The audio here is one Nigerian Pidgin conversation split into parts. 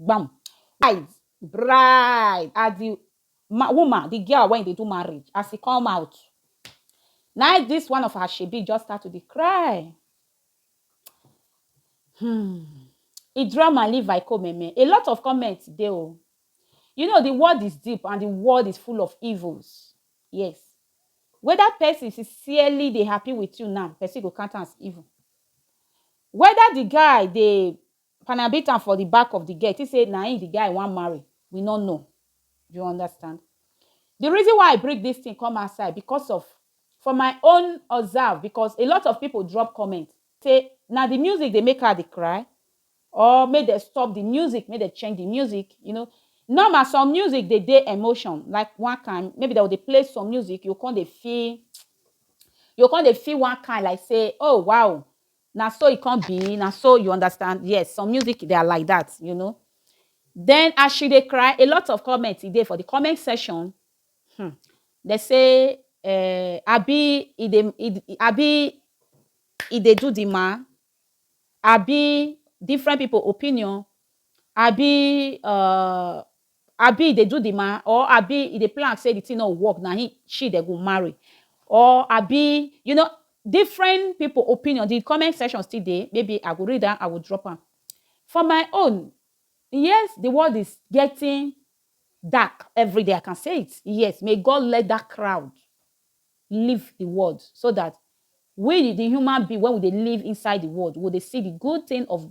Gbam. Eyes bright as the ma woman, the girl wey e dey do marriage, as e come out, na im this one of her shebi just start to dey cry. Hmm. E draw my live I come meme. A lot of comments dey o. You know, the world is deep and the world is full of evils. Yes. Whether person sincerely dey happy with you now, person go count am as evil. Whether the guy dey Panya beat am for the back of the girl, think say na him the guy wan marry, we no know, you understand. The reason why I bring this thing come outside because of for my own observe because a lot of people drop comment say na the music dey make her dey cry or make dem stop the music, make dem change the music, you know, normal some music dey dey emotion like one kind maybe dem go dey play some music you go come dey feel you go come dey feel one kind like say oh wow Na so e come be, na so you understand, yes some music they are like that you know. Then as she dey cry a lot of comment e dey for the comment section um they say um abi e dey e abi e dey do the man abi different people opinion abi um Abi e dey do the man or abi e dey plan say the thing no go work na him she dem go marry or abi you know different people opinion the comment section still dey maybe I go read am I go drop am for my own yes the world is getting dark everyday I can say it yes may God let that crowd leave the world so that we the human being when we dey live inside the world we go dey see the good thing of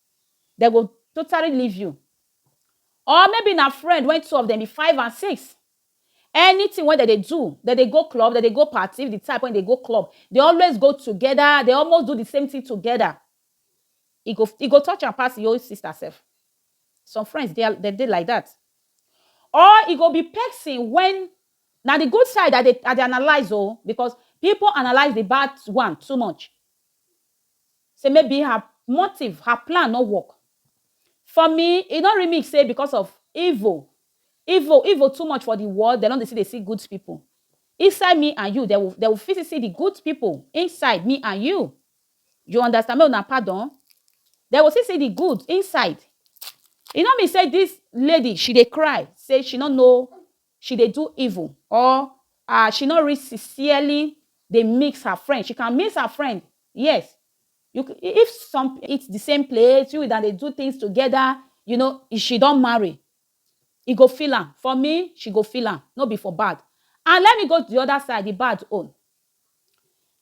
Dem go totally leave you. Or maybe na friend when two of dem be five and six. Anything wey dem dey do, dem dey go club, dem dey go party, if the type wey dey go club, they always go together, they almost do the same thing together. E go e go touch am pass e own sister self. Some friends dey dem dey like that. Or e go be person when na the good side I dey I dey analyze o because people analyze the bad one too much. Say maybe her motive, her plan no work. For me, e no remix say because of evil. Evil evil too much for the world, dem no dey see dey see good people. Inside me and you, dem will dem will fit see see the good people inside me and you. You understand? Make una pardon. Dem go see see the good inside. E no mean say this lady she dey cry say she no know she dey do evil or ah she no really sincerely dey mix her friend, she can mix her friend yes you can if some eat the same plate you una dey do things together you know if she don marry e go feel am for me she go feel am no be for bad and let me go the other side the bad own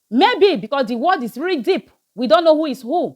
maybe because the word is really deep we don't know who is who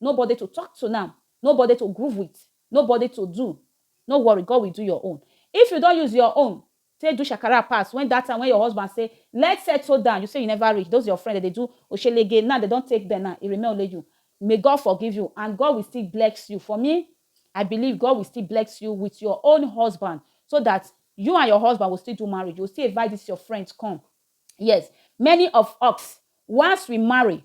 Nobody to talk to now, nobody to groove with, nobody to do, no worry God will do your own. If you don use your own take do shakara pass when that time when your husband say let's settle down, you say you never reach, those your friend dem dey do oshelege now dem don take them now, e remain only you. May God forgive you and God will still bless you. For me, I believe God will still bless you with your own husband so that you and your husband will still do marriage, you will still invite this your friend come. Yes, many of us once we marry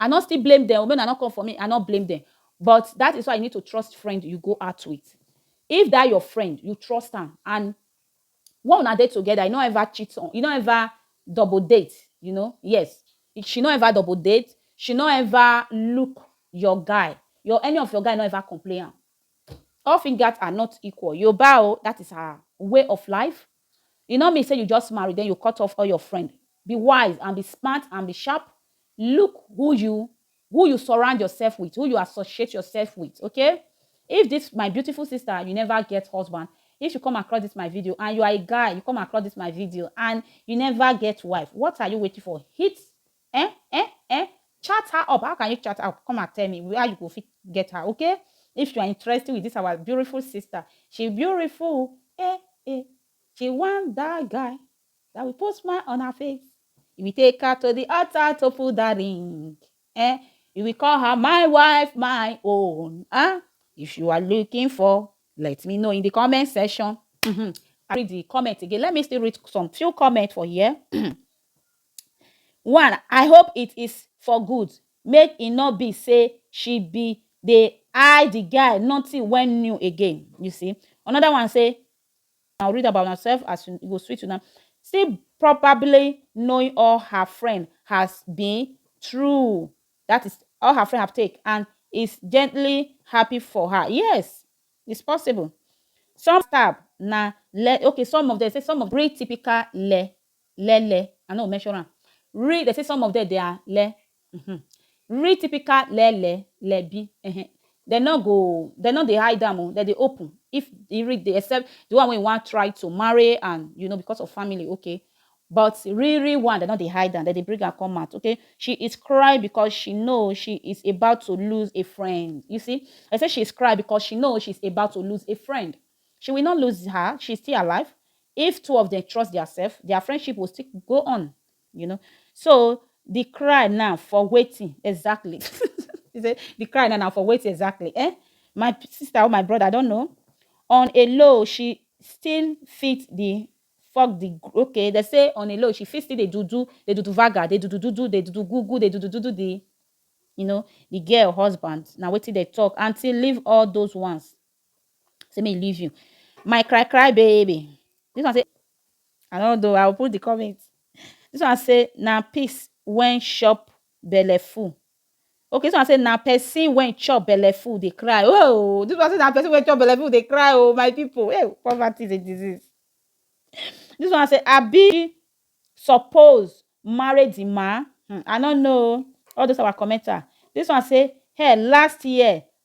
I no still blame dem o, make una no come for me, I no blame dem but that is why you need to trust friend you go out with. If that your friend, you trust am and when una dey together, e no ever cheat on, e no ever double date, you know, yes, she no ever double date, she no ever look your guy, your any of your guy no ever complain am, all fingers are not equal, Yoruba o, that is her way of life, E no mean say you just marry then you cut off all your friend. Be wise and be smart and be sharp, look who you who you surround yourself with, who you associate yourself with, okay? If this my beautiful sister, you never get husband, if you come across this my video and you are a guy, you come across this my video and you never get wife, what are you waiting for? Hit Ehn ehn ehn chat her up how can you chat her up come and tell me where you go fit get her okay if you are interested with this our beautiful sister she beautiful oo eh eh she want that guy that will put smile on her face he will take her to the altar to put that ring eh he will call her my wife my own ah if you are looking for let me know in the comment section mm -hmm. I read the comment again let me still read some few comments for here. one i hope it is for good make e nor be sey she be dey eye the guy nothing wey new again you see another one sey una go read am by una self as e go sweet una still probably knowing all her friend has been through that is all her friend have take and is gently happy for her yes is possible some stab na le okay some of dem sey some of breathe typical le le le I no measure am ri dem say some of dem dey are le uhmm ri typical le le le bi ehe dem no go dem no dey hide am o dem dey open if e ri dey except the one wey wan try to marry and you know because of family okay but ri ri one dem no dey hide am dem dey bring am come out okay she is cry because she know she is about to lose a friend you see dem say she is cry because she know she is about to lose a friend She will not lose her, she is still alive, if two of dem trust their self, their friendship will still go on you know so the cry now for wetin exactly he say the cry now na for wetin exactly eh my sister or my brother I don't know on a low she still fit the fuck the okay they say on a low she fit still dey do do dey do do vaga dey do do do do dey do do goo goo dey do do do do the you know the girl husband na wetin they talk until leave all those ones Say me leave you. My cry cry baby. This one say I don't know. I will put the comment. This one say na peace when shop belle full. Okay, so I say na person when chop belle full they cry. Oh, this one say na person when chop belle full they cry. Oh, my people. Hey, poverty is a disease. This one say Abi suppose marry the man. Hmm, I don't know. All those our commenter. This one say hey last year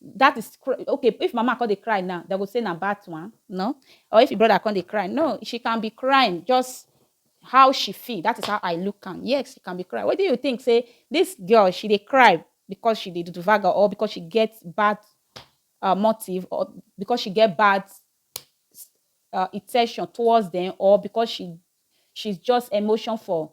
that is okay if mama come dey cry now they go say na bad one no or if your brother come dey cry no she can be crying just how she feel that is how i look am yes she can be crying what do you think say this girl she dey cry because she dey do vaga or because she get bad uh, motive or because she get bad uh, intention towards them or because she she's just emotion for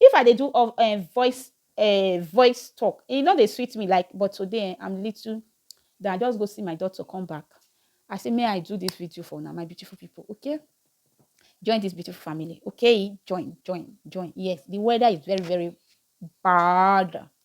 If I dey do um voice um voice talk, e no dey sweet me like but today um I'm little then I just go see my doctor come back. I say may I do this video for una my beautiful people okay join this beautiful family okay join join join yes the weather is very very bad